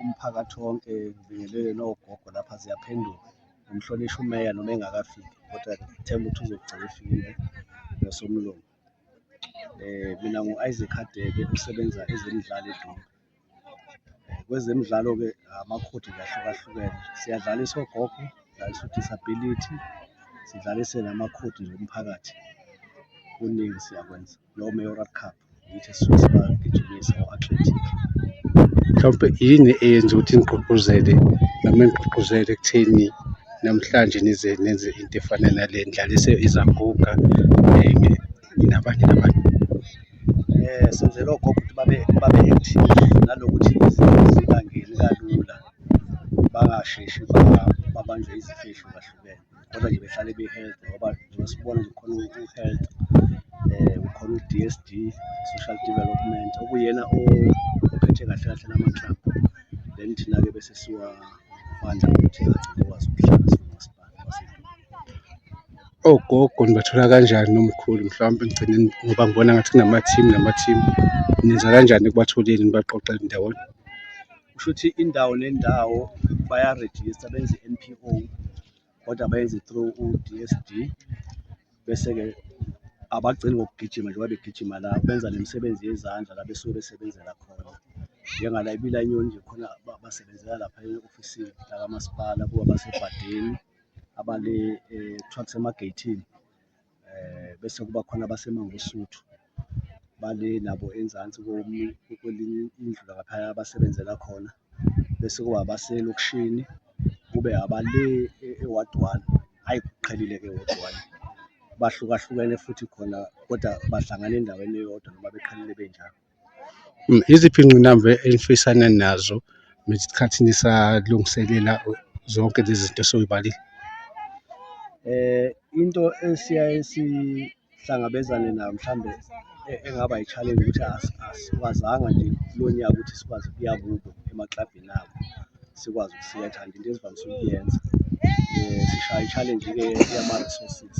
umphakathi wonke ngibingelele nogogo lapha ziyaphenduka ngimhlonishwa umeya noma engakafiki kodwa ngithemba ukuthi uzogcina efikile nosomlungu eh mina ngu-isaac hadebe usebenza ezemidlalo edumbe eh, kwezemidlalo-ke amakhodi ngahlukahlukene siyadlala isogogo sidlalisa udisability sidlalise namakhodi nje omphakathi kuningi siyakwenza lo Mayoral Cup ngithi sisuke sibagijimisa o-athletic mhlawumpe yini eyenza ukuthi nigqugquzele noma nigqugquzele ekutheni namhlanje nize nenze into efana nale ndlala izaguga um nabanye nabantu um senzela ogogo ukuthi babe babe active nanokuthi zibangeni kalula bangasheshi babanjwe izifihlo zahlukene kodwa nje behlale be-healthy ngoba njengoba sibona nje khona u-health um ukhona u-d s d social development okuyena ophethe kahle kahle lama-club then thina-ke bese siwafanda ukuthi agcine kwazi ukuhlala siwumasipala ogogo nibathola kanjani nomkhulu mhlawumbe ngigcine ngoba ngibona ngathi kunama-team nama-team nenza kanjani ekubatholeni nibaqoqele ndawonye kusho ukuthi indawo nendawo bayarejista benze i-NPO kodwa bayenze through u-DSD bese-ke abagcini ngokugijima njengoba begijima la benza nemisebenzi yezandla la besuke besebenzela khona njengala ibila inyoni nje khona basebenzela lapha e-ofisini lakamasipala kuba basebhadeni abale um eh, trucks emageyithini eh bese kuba khona abaseMangosuthu bale nabo enzansi kwelinye indlu laphaya abasebenzela khona bese kuba abaselokishini kube abale e-ward one hhayi kuqhelile-ke e-ward one bahlukahlukene futhi khona kodwa bahlangana endaweni eyodwa noma beqhelile benjalo. Iziphi iy'ngqinamba enifisana nazo ngesikhathi nisalungiselela zonke lezi zinto esoy'balile? Into esiyaye sihlangabezane nayo mhlawumbe engaba i-challenge ukuthi asikwazanga nje kulo nyaka ukuthi sikwazi ukuya kubo emaklabhini abo sikwazi ukusingatha nje into ezivamise ukuyenza sishaya i-challenge-ke yama-resources.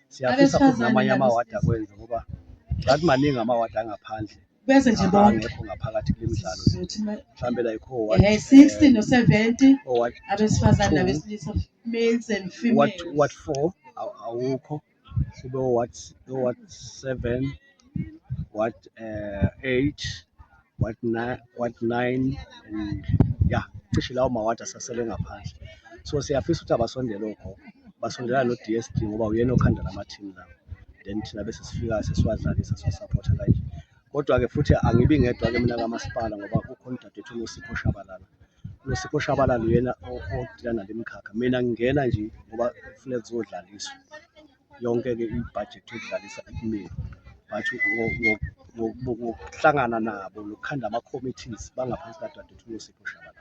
siyafisa futhi namanye amawadi akwenze ngoba ngathi maningi amawadi angaphandle bese nje bonke angekho ngaphakathi kule midlalo mhlawumbe la ikho ward eh 60 no 70 abesifazane nabesilisa males and females ward 4 awukho kube ward ward 7 what uh, eight what nine what nine and yeah cishe lawo mawadi asasele ngaphandle so siyafisa ukuthi abasondele ogogo basondela no-dsd ngoba uyena okhanda lamathini lawo then thina bese sifika sesiwadlalisa siwasaphotha kanje kodwa-ke futhi angibi ngedwa-ke mina kamasipala ngoba kukhona udadewethu unosipho shabalala unosipho shabalala uyena odila nale mkhakha mina ngingena nje ngoba kufuneka kuzodlaliswa yonke-ke ibhajethi yokudlalisa ikumele but ngokuhlangana nabo nokukhanda ama-committees bangaphansi kadadewethu unosipho shabala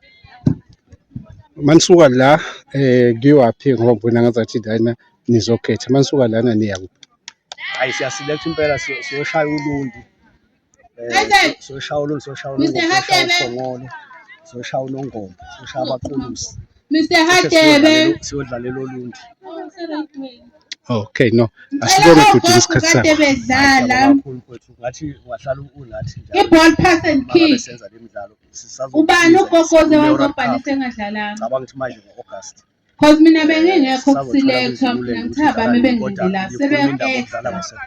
manisuka la eh kuyowaphi ngoba ngibona ngazathi lana nizokhetha manisuka lana niya kuphi hayi siyaselect impela siyoshaya ulundi soshaya olunye soshaya olunye soshaya unongoma soshaya abaqulusi Mr. Hadebe siyodlalela olundi Okay no asibone ukuthi isikhathi sakho Hadebe dlala kakhulu kwethu ngathi wahlala unathi njalo iball pass and kick senza lemidlalo sisazo ubani ugogoze wazobhalisa engadlalanga ngicabanga ukuthi manje ngo-August Cause mina bengingekho kuselekthwa mina ngithiya bami bengilindela sebeya-acta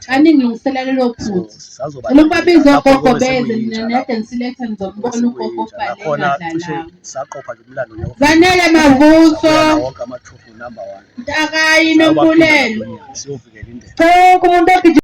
baningilungisela lelo phutha lokuba biza ogogo beze mina nede ngiselekthwa ngizokubona ugogo obhalelwadlalami zanele mavuso mntakayi nombulelo cela umuntu ogijima